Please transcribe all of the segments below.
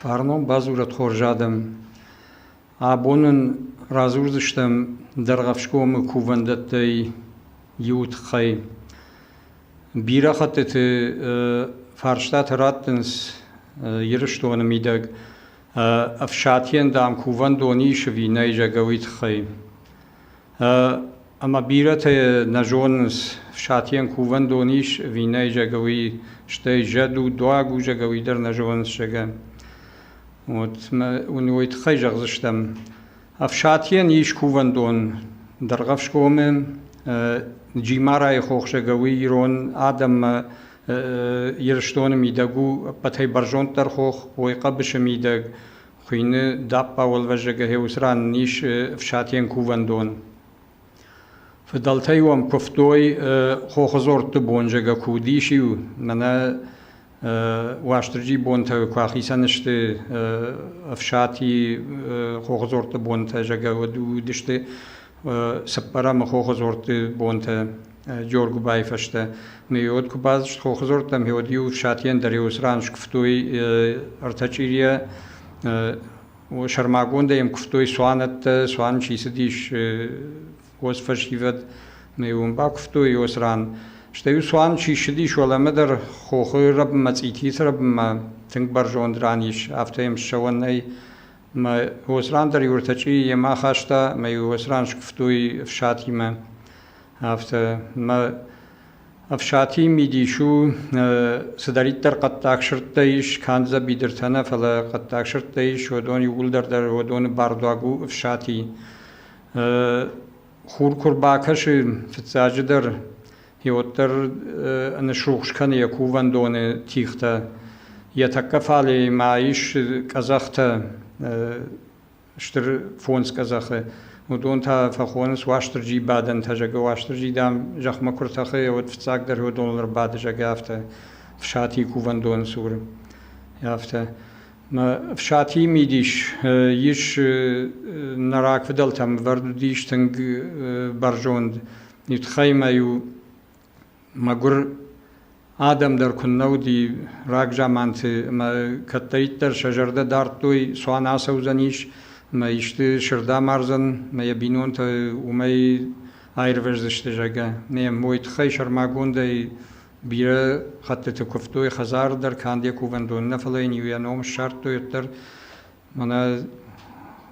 Фарнон бадзурӕд хорз адӕм. Абон нын радзурдзыстӕм Дӕргъӕфсгомы кувӕндӕттӕй иуы тыххӕй. Бирӕ хӕттыты фарстатӕ раттынц Ирыстоны мидӕг ӕфсатийӕн, дам, кувӕндон ис ӕви нӕй зӕгъгӕ, уый тыххӕй. Ӕмӕ бирӕтӕ нӕ зонынц, Сатийӕн кувӕндон ис ӕви нӕй, зӕгӕ, уый, стӕй зӕд у, дуаг у, зӕгӕ, уый дӕр нӕ зонынц, зӕгӕ. Вот мӕ уын уый тыххӕй зӕгъдзыстӕм. Ӕфсатийӕн ис кувӕндон Дӕргъӕфсгомы, Джимарайы хох, зӕгӕ, уый ирон адӕммӕ Ирыстоны мидӕг у ӕппӕтӕй бӕрзонддӕр хох, уой хъӕбысы мидӕг. Хуыйны дӕппауӕлвӕзӕг гъеуыцы ран ис ӕфсатийӕн кувӕндон. Фыдӕлтӕ-иу ӕм куывтой хохы дзордты бонзӕгӕ куы уыдис-иу, мӕнӕ Уастырджи бонтӕ куы ахицӕн сты ӕфсати хохы дзордты бонтӕ зӕгӕ уыдысты, Цыппӕрӕмы хохыдзорты бонтӕ Джоргуыбайы фӕстӕ меёд куы бацыд хохыдзортӕм, меёд-иу Сатийӕн дӕр-иу сран скуывтой ӕртӕ чъирийӕ, сӕрмагондӕй йӕм куывтой цуанӕттӕ, цуан чи цыдис хос фӕсивӕд, мӕ-иу ын бакуывтой йӕ сран. Стӕй-иу цуан чи ссыдис уӕлӕмӕ дӕр хохы рӕбынмӕ, цъититы рӕбынмӕ тынг бӕрзонд ран ис, афтӕ йӕм ссӕуӕн нӕй. Мӕ уоц ран дӕр Юртачъи йемӕ ахаста мӕ йе уоц ран скуфтуй ӕфсатимӕ. Афтӕ мӕ ӕфсати мидис у цыдӕриддӕр хъӕддаг сырдтӕ ис, канд дзӕбидыртӕ нӕ, фӕлӕ хъӕддаг сырдтӕ ис, уыдон иууылдӕр дӕр уыдоны бардуаг у ӕфсати. Хур куы рбакӕсы, фыццаджыдӕр Е уӕддӕр нисрухс кӕны йӕ кувӕндоны тихтӕ. Йӕ тӕккӕ фале ма ис къӕдзӕхтӕ, стыр фондз къӕдзӕхы. Уыдон та фӕхонынц Уастырджи бадӕнтӕ, зӕгӕ Уастырджи, дам, зӕхмӕ куы ртӕхы, уӕд фыццагдӕр уыдоныл ӕрбады, зӕгӕ, афтӕ Фсатийы кувӕндоны цур. Афтӕ. Фсатийы мидис ис, нӕ рагфыдӕлтӕм ӕвӕрд уыдис тынг бӕрзонд Итхаймӕ-иу мӕгуыр адӕм дӕр куыннӕ уыди рагзаманты ӕмӕ кӕддӕриддӕр сӕ зӕрдӕ дардтой, цуан ацӕудзӕнис ӕмӕ исты сырд амардзӕн ӕмӕ йӕ бинонтӕ уымӕй аирвӕздзысты, зӕгъгӕ. Нӕ мой тыххӕй сӕрмагондӕй бирӕ хӕттыты куывтой, хӕдзары дӕр канд йӕ кувӕндон нӕ, фӕлӕ йын-иу йӕ ном ссардтой, уӕддӕр Мӕнӕ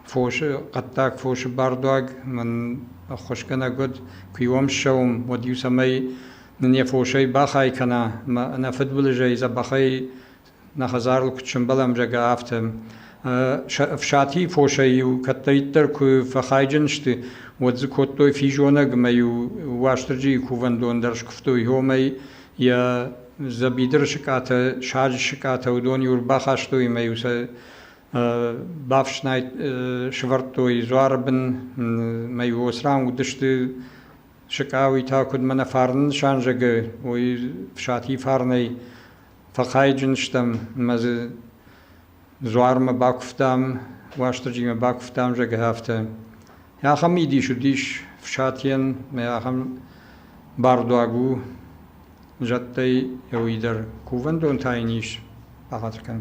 фосы, хъӕддаг фосы бардуаг мын ӕххуысгӕнӕг уыд. Куы иуӕм ссӕуӕм, уӕд-иу цӕмӕй нын йӕ фосӕй бахай кӕна, ӕмӕ ӕнӕфыдбылызӕй дзӕбӕхӕй нӕ хӕдзарыл куыд сӕмбӕлӕм, зӕгъгӕ, афтӕ. Ӕфсати фосӕй-иу кӕддӕриддӕр куы фӕхайджын сты, уӕд дзы кодтой физонӕг ӕмӕ-иу Уастырджийы кувӕндон дӕр скуывтой. Омӕй Йӕ дзӕбидыры сыкъатӕ, саджы сыкъатӕ уыдон-иу ӕрбахастой ӕмӕ-иу сӕ бафснайд сӕвӕрдтой дзуары бын ӕмӕ-иу Осран уыдысты сыкъа, уый та куыдмӕ нӕ фарны нысан зӕгъы, уый Сатийы фарнӕй фӕхайджын стӕм ӕмӕ дзы Дзуармӕ бакуывтам, Уастырджимӕ бакуывтам, зӕгъгӕ, афтӕ. Ахӕм мидис уыдис фсатийӕн, мӕ ахӕм бардуаг у зӕдтӕй иуи дӕр. Кувӕндон та йын ис, бахатыр кӕн.